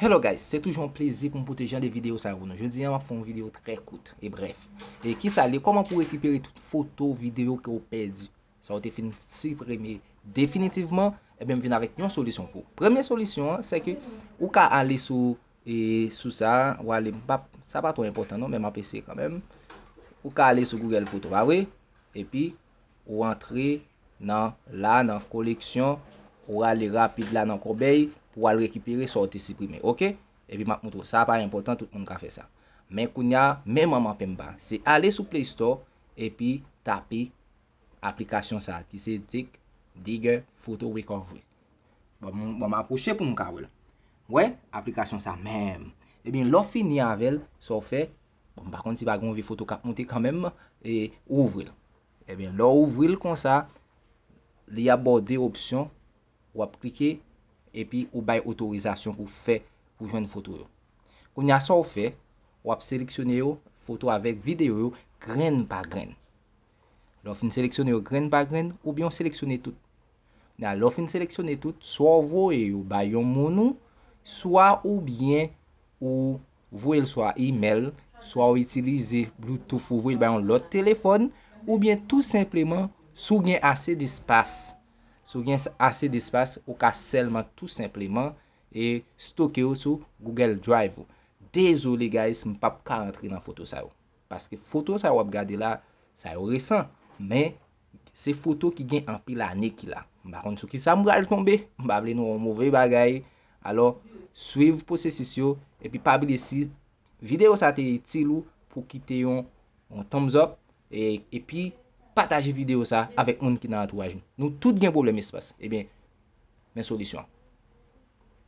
Hello guys, se toujou yon plezi pou m pote jan de videyo sa yo pou nou. Jodi an m ap fè yon videyo trè kout e brèf. E kisa l ye? Kòman pou rekipere tout foto, videyo ke ou pèdi? Sa ou te fin siprime definitivman, enben m vin avèk yon solisyon pou ou. Premye solisyon an, se ke ou ka ale sou e sou sa, ou ale m pap, sa pa twò enpòtan non men m ap eseye kanmenm. Ou ka ale sou Google foto pa vre? Epi ou antre nan la nan koleksyon ou ale rapid la nan kòbèy pou al rekipere sa ou te siprime ok epi map moutre w sa pa enpòtan tout moun ka fè sa men kounya men manman penmba se ale sou play store epi tape aplikasyon sa ki se tik digger photo recovery bon ma pwoche pou nou ka wèl wè aplikasyon sa menm ebyen lè w fini avèl sa w fè Bon m pa konn si pa gen yon vye foto k ap moute kanmenm. E ou ouvri l. Ebyen lè w ouvri l konsa, li ap ba w de opsyon. W ap klike epi ou bay otorizasyon pou fè, pou jwenn foto yo. Kounye a sa w fè, w ap seleksyone yo, foto avèk videyo yo, grenn pa grenn. Lè w fin seleksyone yo grenn pa grenn, oubyen w seleksyone tout. Kounye a lè w fin seleksyone tout, swa w voye yo bay yon moun ou, swa oubyen ou. ou voye l swa imèl, swa ou itilize bloutouf ou voye l ba yon lòt telefòn, oubyen tou senpleman si w gen ase despas, si w gen ase despas ou ka sèlman tou senpleman e stoke yo sou Google Drive ou. Dezole guys m pap ka rantre nan foto sa yo, paske foto sa yo w ap gade la, sa yo resan, men Se foto ki gen anpil ane ki la. M pa konn sou ki sa m pral tonbe. M pa vle nou wè yon move bagay. Alò, swiv pwosesis yo. Epi pa bliye si videyo sa te itil ou pou w kite yon thumbs up. Epi pataje videyo sa avèk moun ki nan antouraj nou. Nou tout gen pwoblèm espas. Ebyen, men solisyon an.